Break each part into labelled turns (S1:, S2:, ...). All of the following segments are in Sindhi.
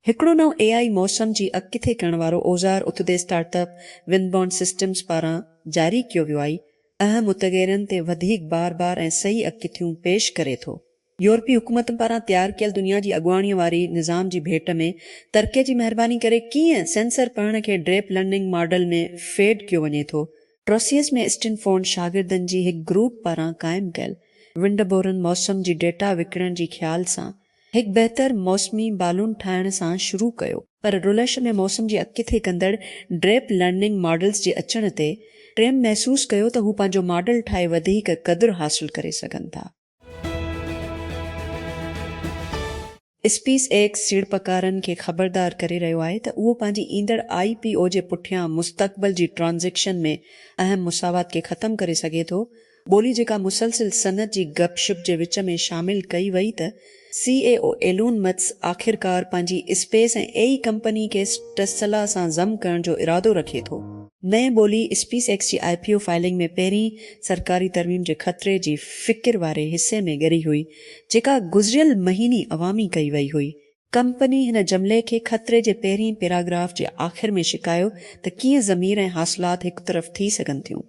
S1: هڪڙو نئون اي آء موسم جي اڳڪٿي ڪرڻ وارو اوزار اتودي اسٽارٽ اپ Windborne Systems پاران جاري ڪيو ويو آء اهم متغيرن تي وڌيڪ بار بار ۽ صحيح اڳڪٿيون پيش ڪري ٿو. يورپي حڪومتن پاران تيار ڪيل دنيا جي اڳواڻيء واري نظام جي ڀيٽ ۾ ترڪيء جي مهرباني ڪري ڪيئن سينسر پڙهڻ کي ڊيپ لرننگ ماڊل ۾ فيڊ ڪيو وڃي ٿو. ٽروسيس ۾ اسٽينفورڊ شاگردن جي هڪ گروپ پاران قائم ڪيل ونڊبورن موسم جي ڊيٽا وڪڻڻ جي خيال سان هڪ بهتر موسمي بالون ٺاهڻ سان شروع ڪيو، پر رلش ۾ موسم جي اڳڪٿي ڪندڙ ڊيپ لرننگ ماڊلز جي اچڻ تي، ٽريم محسوس ڪيو ته هو پنهنجو ماڊل ٺاهي وڌيڪ قدر حاصل ڪري سگهن ٿا. اسپيس ايڪس سيڙپڪارن کي خبردار ڪري رهيو آهي ته اهو پنهنجي ايندڙ آئي پي او جي پٺيان مستقبل جي ٽرانزيڪشن ۾ اهم مساوات کي ختم ڪري سگهي ٿو. ٻولي جيڪا مسلسل صنعت جي گپ شپ جي وچ ۾ شامل ڪئي وئي ته سي اي او ايلون متس آخرڪار پنهنجي اسپيس ۽ اي اي ڪمپني کي ٽسلا سان ضم ڪرڻ جو ارادو رکي ٿو. نئين ٻولي اسپيس ايڪس جي آء پي او فائلنگ ۾ پهرين سرڪاري ترميم جي خطري جي فڪر واري حصي ۾ ڳري هئي جيڪا گذريل مهيني عوامي ڪئي وئي هئي. ڪمپني هن جملي کي خطري جي پهرين پيراگراف جي آخر ۾ شڪايو ته ڪيئن ضمير ۽ حاصلات هڪ طرف ٿي سگهن ٿيون.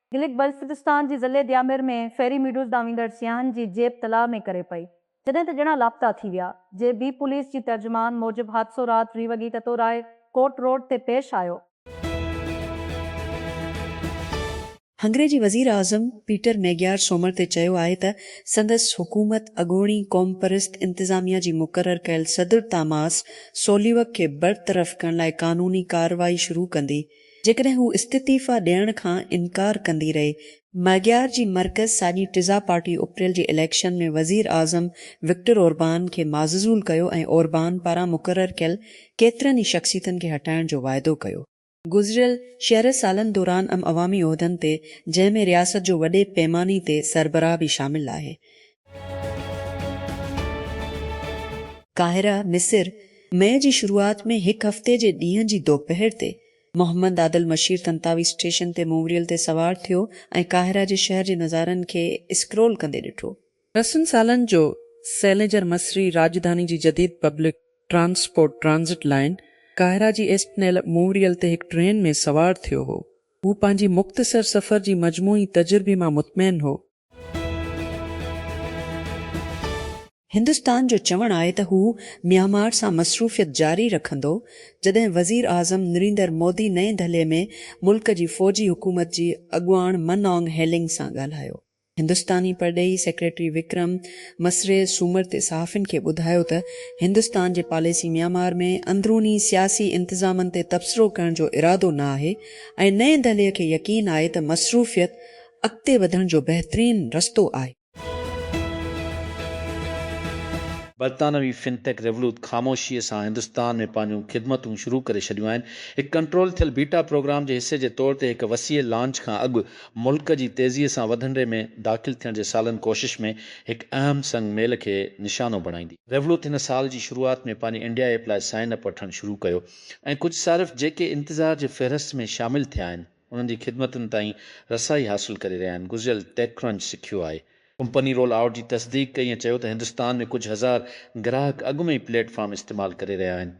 S2: گلگت بلتستان جي ضلعي ديامير ۾ فيري ميڊوز ڏانهن ويندڙ سياحن جي جيپ تلاء ۾ ڪري پئي، جڏهن ته ڄڻا لاپتا ٿي ويا. جي بي پوليس جي ترجمان موجب حادثو رات وي وڳي تتوراء ڪورٽ روڊ تي پيش آيو.
S1: هنگري جي وزيراعظم پيٽر ميگيار سومر تي چيو آهي ته سندس حڪومت اڳوڻي قومپرست انتظاميا جي مقرر ڪيل صدر تاماس سوليوڪ کي برطرف ڪرڻ لاء قانوني ڪارروائي شروع ڪندي. جيڪڏهن هو استعطيفا ڏيڻ کان انڪار ڪندي رهي. ماگيار جي مرڪز ساڄي ٽزا پارٽي اپريل جي اليڪشن ۾ وزير اعظم وڪٽر اوربان کي معززول ڪيو ۽ اوربان پاران مقرر ڪيل ڪيترن ئي شخصيتن کي هٽائڻ جو واعدو ڪيو. گذريل شرح سالن دوران ام عوامي عهدن تي جنهن ۾ رياست جو وڏي پيماني تي سربراهه به شامل آهي قاهره، مصر، مئي جي شروعات ۾ هڪ هفتي جي ڏينهن جي دوپهر تي محمد عادل مشير طنطاوي اسٽيشن تي مووريل تي سوار ٿيو ۽ قاهره جي شهر جي نظارن کي اسڪرول ڪندي ڏٺو. رسن سالن جو سئلينجر مصري راڄڌاني جي جديد پبلڪ ٽرانسپورٽ ٽرانزٽ لائين قاهره جي ايسٽنيل مووريل تي هڪ ٽرين ۾ سوار ٿيو هو. هو پنهنجي مختصر سفر جي مجموعي تجربي مان مطمئن هو. هندستان جو چوڻ آهي ته هو ميانمار سان مصروفيت جاري رکندو، جڏهن وزيراعظم نريندر مودي نئين دهلي ۾ ملڪ جي فوجي حڪومت جي اڳواڻ من آنگ هيلنگ سان ڳالهايو. هندستاني پرڏيهي سيڪريٽري وڪرم مسري سومر تي صحافين کي ٻڌايو ته هندستان جي پاليسي ميانمار ۾ اندروني سياسي انتظامن تي تبصرو ڪرڻ جو ارادو نه آهي ۽ نئين دهلي کي يقين آهي ته مصروفيت اڳتي وڌڻ جو بهترين رستو آهي.
S3: برطانوي فن ٽيڪ ريولوت خاموشيء سان هندستان ۾ پنهنجون خدمتون شروع ڪري ڇڏيون آهن. هڪ ڪنٽرول ٿيل بيٽا پروگرام جي حصي جي طور تي هڪ وسيع لانچ کان اڳ ملڪ جي تيزيء سان وڌندڙي ۾ داخل ٿيڻ جي سالن ڪوشش ۾ هڪ اهم سنگ ميل کي نشانو بڻائيندي، ريولوت هن سال جي شروعات ۾ پنهنجي انڊيا ايپ لاء سائن اپ وٺڻ شروع ڪيو ۽ ڪجهه صارف جيڪي انتظار جي فهرست ۾ شامل ٿيا آهن. انهن جي خدمتن تائين رسائي حاصل ڪري رهيا آهن، گذريل ٽيڪ ڪرنچ سکيو آهي. ڪمپني رول آئوٽ جي تصديق ڪئي ۽ چيو ته هندستان ۾ ڪجهه هزار گراهڪ اڳ ۾ ئي پليٽ فارم استعمال ڪري رهيا آهن.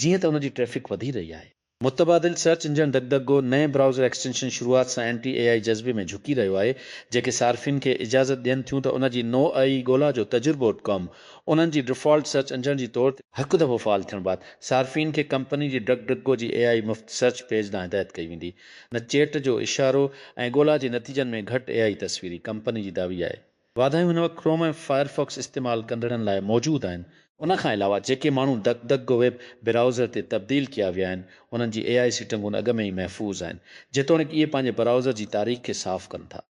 S3: جيئن ته ان جي ٽريفڪ وڌي رهي آهي. متبادل سرچ انجڻ ڊڪ ڊڪ گو نئين براؤزر ايڪسٽينشن شروعات سان اينٽي اي آئي جذبي ۾ جهڪي رهيو آهي، جيڪي صارفين کي اجازت ڏين ٿيون ته ان جي نوعئي ڳولا جو تجربو ڪم انهن جي ڊفالٽ سرچ انجڻ جي طور تي. هڪ دفعو فعال ٿيڻ بعد صارفين کي ڪمپني جي ڊڪ ڊڪ گو جي اي آئي مفت سرچ پيج ڏانهن هدايت ڪئي ويندي نه چيٽ جو اشارو ۽ ڳولا جي نتيجن ۾ گهٽ اي آئي تصويري ڪمپني جي دعوي آهي واڌايون هن وقت ڪروم ۽ فائرفاڪس استعمال ڪندڙن لاء موجود آهن. ان کان علاوه جيڪي ماڻهو ڊڪ ڊڪ گو ويب براوزر تي تبديل ڪيا ويا آهن انهن جي اي آئي سيٽنگون اڳ ۾ ئي محفوظ آهن جيتوڻيڪ اهي پنهنجي براوزر جي تاريخ کي صاف ڪن ٿا.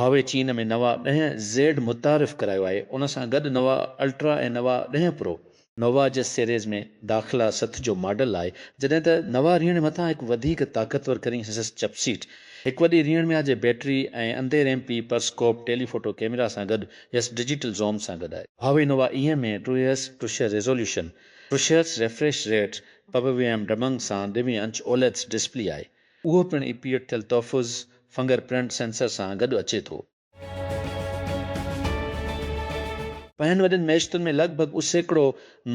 S3: هواوي چين ۾ نوا ڏهه زيڊ متعارف ڪرايو آهي، ان سان گڏ نوا الٽرا ۽ نوا ڏهه پرو نوا جي سيريز ۾ داخلا ست جو ماڊل آهي، جڏهن ته نوا ريڻ مٿان هڪ وڌيڪ طاقتور ڪرين هسس چپ سيٽ، هڪ وڏي ريڻ ميا جي بيٽري ۽ اندير M P periscope telephoto camera سان گڏ يس ڊجيٽل زوم سان گڏ آهي. Huawei Nova M A two S two شهه ريزوليوشن پرشيئس ريفريش ريٽ پب وي ايم ڊبنگ سان ڏوهين انچ اوليدس ڊسپلي آهي. اهو پڻ اي پيٽ ٿيل تحفظ فنگر پرنٽ سينسر سان گڏ اچي ٿو. پنهن وڏين ميشتن ۾ لڳ ڀڳ اهو سيڪڙو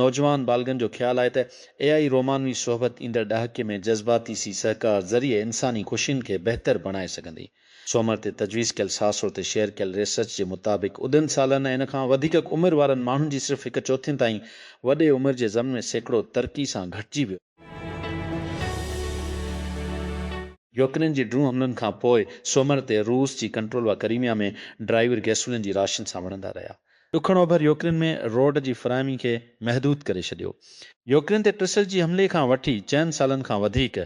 S3: نوجوان بالغن جو خيال آهي ته اي آئي رومانوي صحبت ايندڙ ڏهاڪي ۾ جذباتي سي سهڪار ذريعي انساني خوشين کي بهتر بڻائي سگهندي. سومر تي تجويز ڪيل ساسو تي شيئر ڪيل ريسرچ جي مطابق اڌن سالن ۽ ان کان وڌيڪ عمر وارن ماڻهن جي صرف هڪ چوٿين تائين وڏي عمر جي زمن ۾ سيڪڙو ترقي سان گهٽجي ويو. يوڪرين جي ڊرون حملن کان پوء سومر تي روس جي ڪنٽرول واري ڪريميا ۾ ڊرائيور گيسولين جي راشن سان وڙهندا رهيا. ڏکڻ اوڀر يوڪرين ۾ روڊ جي فراهمي کي محدود ڪري ڇڏيو. يوڪرين تي ٽرسل جي حملي کان وٺي چئن سالن کان وڌيڪ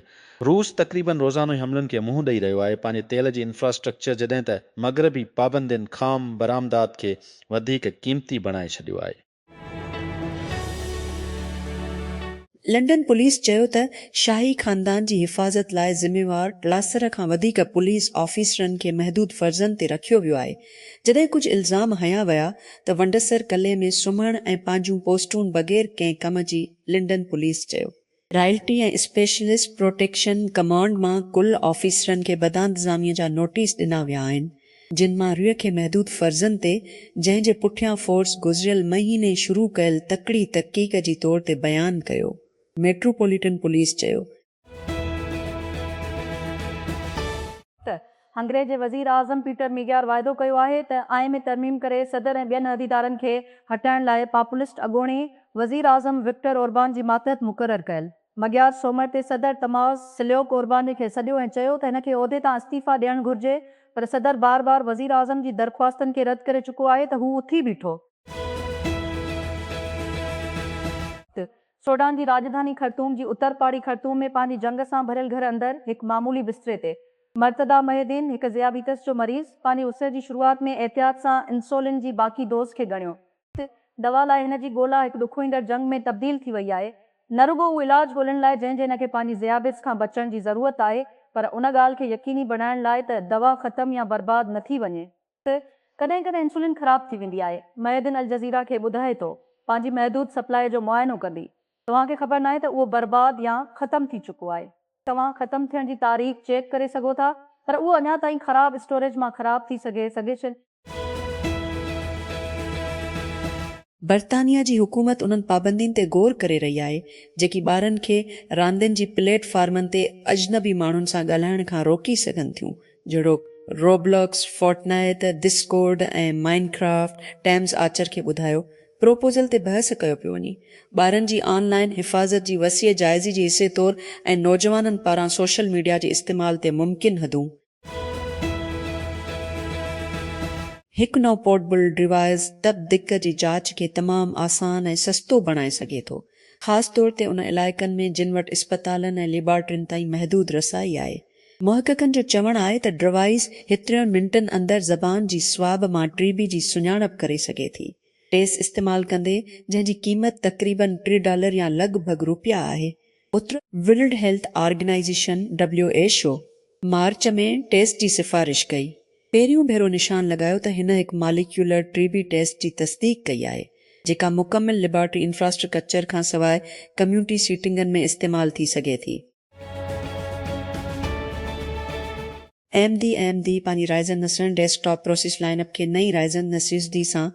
S3: روس تقريبن روزانو ئي حملن کي منهن ڏئي رهيو آهي، پنهنجي تيل جي انفراسٽرڪچر جڏهن ته مغربي پابندين خام برآمدات کي وڌيڪ قيمتي بڻائي ڇڏيو آهي.
S1: لنڊن پوليس چيو ته شاهي خاندان جي حفاظت لاء ذميوار ٽلاسر کان وڌيڪ پوليس آفيسرن کي محدود فرضن تي رکيو ويو آهي، جڏهن ڪجهه الزام هنيا ويا ته ونڊسر قلعي ۾ سمهڻ ۽ پنهنجون پوسٽون بغير ڪنهن ڪم جي لنڊن پوليس چيو. رائلٽي ۽ اسپيشلسٽ پروٽيڪشن ڪمانڊ مان ڪل آفيسرن کي بدانتظاميء جا نوٽيس ڏنا ويا آهن. جن مان ريء کي محدود فرضن تي جنهن جي پٺيان فورس گذريل مهيني شروع ڪيل تڪڙي تحقيق جي طور تي بيان ڪيو، ميٽروپوليٽن پوليس چيو.
S2: ته هنگري جي وزير اعظم پيٽر ميگيار واعدو ڪيو آهي ته آئين ۾ ترميم ڪري صدر ۽ ٻين عهديدارن کي هٽائڻ لاء پاپولسٽ اڳوڻي وزير اعظم وڪٽر اوربان جي ماتحت مقرر ڪيل مگيار سومر تي صدر تماس سليوڪ اورباني کي سڏيو ۽ چيو ته هن کي عهدي تان استعيفيٰ ڏيڻ گهرجي پر صدر بار بار وزيراعظم جي درخواستن کي رد ڪري چڪو آهي ته هو اٿي بيٺو ته سوڊان جي راڄڌاني خرطوم جي اتر پاڙي خرطوم ۾ پنهنجي جنگ سان ڀريل گهر اندر هڪ معمولي بستري تي مرتضيٰ محي الدين هڪ ذيابيطس جو مريض پنهنجي اسر جي شروعات ۾ احتياط سان انسولين جي باقي ڊوز کي ڳڻيو دوا لاء هن جي ڳولا هڪ ڏکوئيندڙ جنگ ۾ تبديل ٿي وئي آهي. نه رڳو هو علاج ڳولڻ لاء جنهن جي هن کي پنهنجي ذيابيطس کان بچڻ جي ضرورت آهي پر ان ڳالهه کي يقيني بڻائڻ لاء ته دوا ختم يا برباد نه ٿي وڃي. ڪڏهن ڪڏهن انسولين خراب ٿي ويندي آهي. معيدن الجزيره کي ٻڌائي ٿو پنهنجي محدود سپلاء جو معائنو ڪندي. توهان کي خبر ناهي ته اهو برباد يا ختم ٿي چڪو آهي. توهان ختم ٿيڻ جي تاريخ چيڪ ڪري سگهو ٿا پر اهو اڃا تائين خراب اسٽوريج مان خراب ٿي سگهي سگهي ڇي.
S1: برطانيا جي حڪومت انهن پابندين تي غور ڪري رهي آهي جيڪي ٻارن کي راندين جي پليٽ فارمن تي اجنبي ماڻهن سان ڳالهائڻ کان روڪي سگهن ٿيون جهڙوڪ روبلاڪس، فورٽنائيت، دسڪورڊ ۽ مائن ڪرافٽ، ٽيمز آرچر کي ٻڌايو پروپوزل تي بحث ڪيو پيو وڃي ٻارن جي آن لائن حفاظت جي وسيع جائزي جي حصي طور ۽ نوجوانن پاران سوشل ميڊيا جي استعمال تي ممڪن حدون هڪ نئون پورٽبل ڊوائيس دٻ دق جي جاچ کي تمام آسان ۽ سستو بڻائي سگهي ٿو، خاص طور تي ان علائقن ۾ جن وٽ اسپتالن ۽ ليبارٽرين تائين محدود رسائي آهي. محققن جو چوڻ آهي ته ڊوائيس هترين منٽن اندر زبان جي سواب مان ٽي بي جي سڃاڻپ ڪري سگهي ٿي. ٽيس استعمال ڪندي، جنهن جي قيمت تقريبن ٽي ڊالر يا لڳ ڀڳ روپيا آهي، اتر world health organisation, W H O, March ۾ ٽيسٽ جي سفارش ڪئي. پهريون ڀيرو نشان لڳايو ته هن هڪ ماليڪيولر ٽي بي ٽيسٽ جي تصديق ڪئي آهي، جيڪا مڪمل ليبارٽري انفراسٽرڪچر کان سواء ڪميونٽي سيٽنگن ۾ استعمال ٿي سگهي ٿي. ايم ڊي ايم ڊي پنهنجي رائزن نسرين desktop process line up کي نئين رائزن نسريس ڊي سان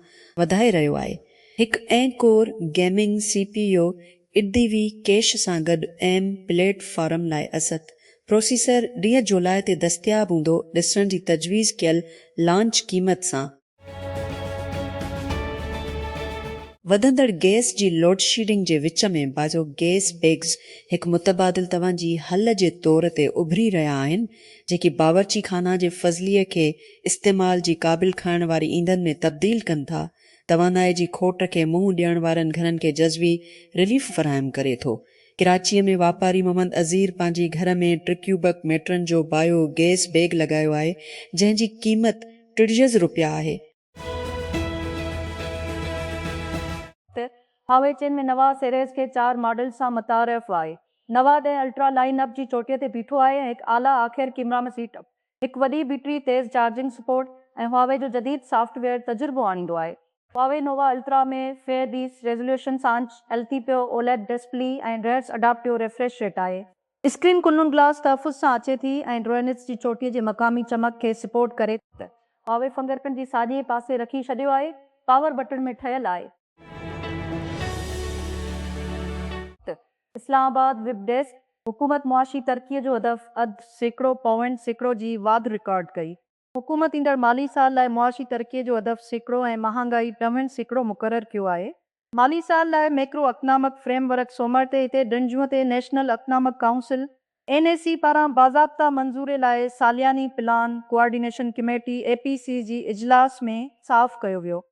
S1: وڌائي رهيو آهي. هڪ اين core gaming C P U eight D V cache سان گڏ ايم پليٽ فارم لاء اسٿ پروسيسر ڏينهن جولاء تي دستياب هوندو ڏسڻ جي تجويز ڪيل لانچ قيمت سان. وڌندڙ گئس جي لوڊشيڊنگ جي وچ ۾ باجو گئس بئگز هڪ متبادل توهان جي حل جي طور تي اڀري رهيا آهن، جيڪي باورچي خانه جي فضلي کي استعمال جي قابل کائڻ واري ايندن ۾ تبديل ڪن ٿا. توانائي جي کوٽ کي منهن ڏيڻ وارن گهرن کي جزوي رليف فراهم ڪري ٿو. ڪراچيء ۾ واپاري محمد عزير پنهنجي گهر ۾ ٽرڪيوبڪ ميٽرن جو بايو گئس بئگ لڳايو آهي، جنهن جي قيمت. ٽڙيز
S2: روپيا آهي. ته هاوي چين ۾ نوا سيريز کي چار ماڊلز سان متعارف آهي. نوا ڏهه الٽرا لائن اپ جي چوٽيء تي بيٺو آهي ۽ هڪ اعليٰ آخر ڪيمرا ۾ سيٽ اپ، هڪ وڏي بيٽري، تيز چارجنگ سپورٽ ۽ هواوي جو جديد سافٽ ويئر تجربو آڻيندو آهي. هواوي نوا الٽرا ۾ فيئر ڊيس ريزوليوشن سانچ ايلٿي پيو اوليڊ ڊسپلي ۽ رهرس اڊاپٽيو ريفريش ريٽ آهي. اسڪرين ڪنون گلاس تحفظ سان اچي ٿي ۽ ڊرونيٽس جي چوٽيء جي مقامي چمڪ کي سپورٽ ڪري ٿي. هاوي فنگرپرنٽ جي ساڄي پاسي رکي ڇڏيو آهي. پاور بٽڻ ۾ ٺهيل آهي. اسلام آباد، ويب ڊيسڪ، حڪومت معاشي ترقي جو هدف اڌ سيڪڙو پوائنٽ سيڪڙو جي واڌ رڪارڊ ڪئي. حڪومت ايندڙ مالي سال لاء معاشي ترقي جو هدف سيڪڙو ۽ مهانگائي ٽوهين سيڪڙو مقرر ڪيو آهي. مالي سال لاء ميڪرو اڪنامڪ فريم ورڪ سومر تي هتي ڊنجون تي national economic council, N E C, پاران باضابطه منظوري لاء سالياني plan coordination committee, A P C, جي اجلاس ۾ صاف ڪيو ويو.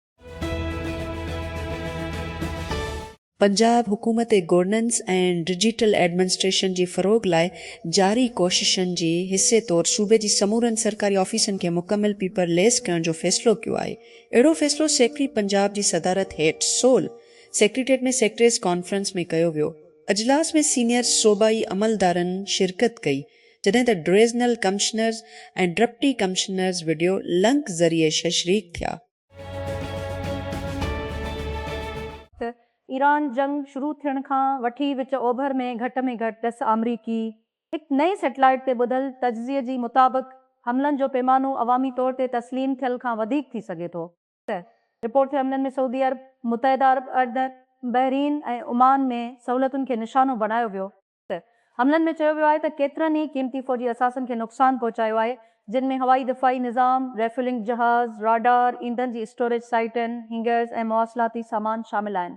S1: پنجاب حڪومت گورننس ۽ ڊجيٽل ايڊمنسٽريشن جي فروغ لاء جاري ڪوششن جي حصي طور صوبي جي سمورن سرڪاري آفيسن کي مڪمل پيپر ليس ڪرڻ جو فيصلو ڪيو آهي اهڙو فيصلو سيڪريٽري پنجاب جي صدارت هيٺ سول سيڪريٽريٽ ۾ سيڪريٽريز ڪانفرنس ۾ ڪيو ويو اجلاس ۾ سينيئر صوبائي عملدارن شرڪت ڪئي جڏهن ته divisional commissioners ۽ deputy commissioners video link ذريعي شريڪ ٿيا.
S2: ته ايران جنگ شروع ٿيڻ کان وٺي وچ اوڀر ۾ گهٽ ۾ گهٽ ڏس آمريڪي هڪ نئين سيٽلائيٽ تي ٻڌل تجزيي جي مطابق حملن جو پيمانو عوامي طور تي تسليم ٿيل کان وڌيڪ ٿي سگهي ٿو ته رپورٽ ٿيل حملن ۾ سعودي عرب، متحده عرب اڙد، بحرين ۽ عمان ۾ سهولتن کي نشانو بڻايو ويو. حملن ۾ چيو ويو آهي ته ڪيترن ئي قيمتي فوجي اثاثن کي نقصان پهچايو آهي، جن ۾ هوائي دفاعي نظام، ريفيولنگ جهاز، راڊار، ايندھن جي اسٽوريج سائيٽن، هينگرز ۽ مواصلاتي سامان شامل آهن.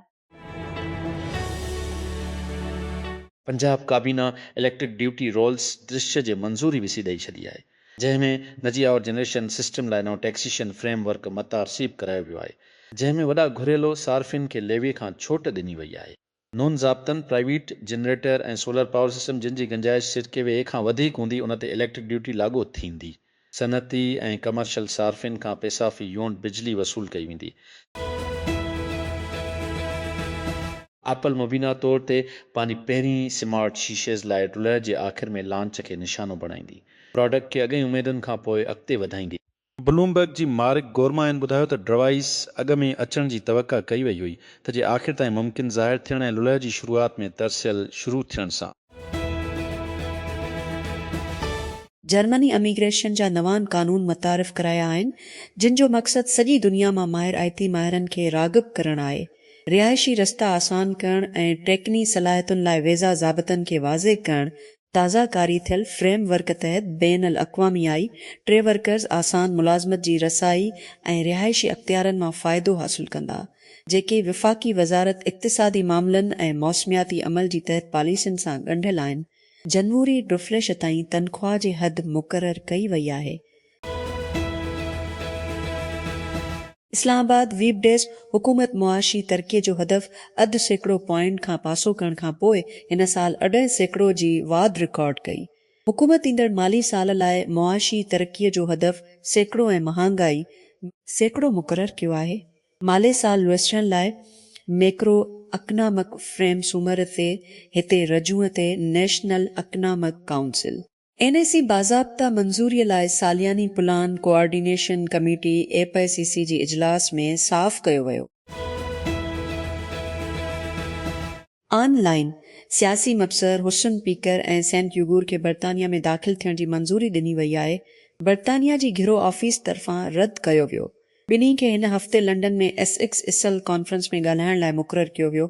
S3: پنجاب ڪابينا اليڪٽرڪ ڊيوٽي رولز درشيء جي منظوري به سي ڏئي ڇڏي آهي، جنهن ۾ نجي آئور جنريشن سسٽم لاء نئون ٽيڪسيشن فريم ورڪ متعرصيب ڪرايو ويو آهي، جنهن ۾ وڏا گهريلو صارفين کي ليوي کان ڇوٽ ڏني وئي آهي. نون ضابطن private generator ۽ solar power system جن جي گنجائش سرڪي وي اي کان وڌيڪ هوندي ان تي اليڪٽرڪ ڊيوٽي لاڳو ٿيندي. صنعتي ۽ ڪمرشل صارفين کان پيسا في يونٽ بجلي وصول ڪئي ويندي. ايپل مبينا طور تي پنهنجي پهرين سمارٽ شيشيز لاء ڊلهه جي آخر ۾ لانچ کي نشانو بڻائيندي. پراڊڪٽ کي اڳئين اميدن کان پوء اڳتي وڌائيندي. بلومبرگ جي مارڪ گورمائن ٻڌايو ته ڊرائيس اڳ ۾ اچڻ جي توقع ڪئي وئي هئي ته جي آخر تائين ممڪن ظاهر ٿيڻ ۽ للهه جي شروعات ۾ ترسيل شروع ٿيڻ سان.
S1: جرمني اميگريشن جا نوان قانون متعارف ڪرايا آهن جن جو مقصد سڄي دنيا مان ماهر آئي ٽي ماهرن کي راغب ڪرڻ آهي رهائشي رستا آسان ڪرڻ ۽ ٽيڪني صلاحيتن لاء ويزا ضابطن کي واضح ڪرڻ تازه ڪاري ٿيل فريم ورڪ تحت بين الاقوامي آئي ٽي ورڪرز آسان ملازمت جي رسائي ۽ رهائشي اختيارن مان فائدو حاصل ڪندا، جيڪي وفاقي وزارت اقتصادي معاملن ۽ موسمياتي عمل جي تحت پاليسين سان ڳنڍيل آهن، جنوري ڊفليش تائين تنخواه جي حد مقرر ڪئي وئي آهي، اسلام آباد، ويب ڊيسڪ، حڪومت معاشي ترقي جو هدف اڌ سيڪڙو پوائنٽ کان پاسو ڪرڻ کان پوء هن سال اڍائي سيڪڙو جي واڌ رڪارڊ ڪئي. حڪومت ايندڙ مالي سال لاء معاشي ترقي جو هدف سيڪڙو ۽ مهانگائي ۾. سيڪڙو مقرر ڪيو آهي. مالي سال وسرڻ لاء ميڪرو اڪنامڪ فريم سومر تي هتي رجوع تي national economic council. N E C باضابطا منظوري لاء سالياني plan coordination committee, A P C C, جي اجلاس ۾ صاف ڪيو ويو. آن لائن، سياسي مبصر حسن پيڪر ۽ سينٽ يوگور کي برطانيا ۾ داخل ٿيڻ جي منظوري ڏني وئي آهي، برطانيا جي گهرو آفيس طرفان رد ڪيو ويو. ٻنهي کي هن هفتي لنڊن ۾ ايسڪس اسل ڪانفرنس ۾ ڳالهائڻ لاء مقرر ڪيو ويو،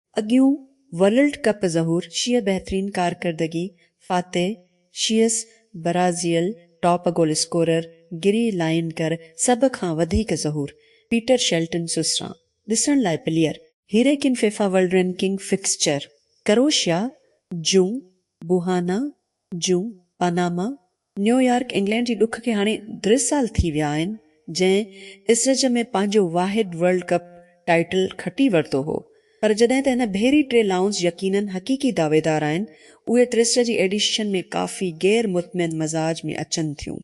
S1: اڳيون ورلڊ ڪپ ظهور شيعه بهترين ڪارڪردگي فاتح شيعس Brazil top goal scorer Gary لائنڪر سڀ کان وڌيڪ ظهور پيٽر شيلٽن سسران ڏسڻ لاء player Harry Kane FIFA world ranking fixture Croatia جون بوهانا جون پاناما نيويارڪ انگلينڊ جي ڏک کي هاڻي ٽي سال ٿي ويا آهن جنهن اسرج ۾ پنهنجو واحد ورلڊ ڪپ ٽائيٽل کٽي ورتو هو پر جڏهن ته هن ڀيري ٽي لائونز يقينن حقيقي دعويدار آهن اهي ٽيسٽ جي ايڊيشن ۾ ڪافي غير مطمئن مزاج ۾ اچن ٿيون.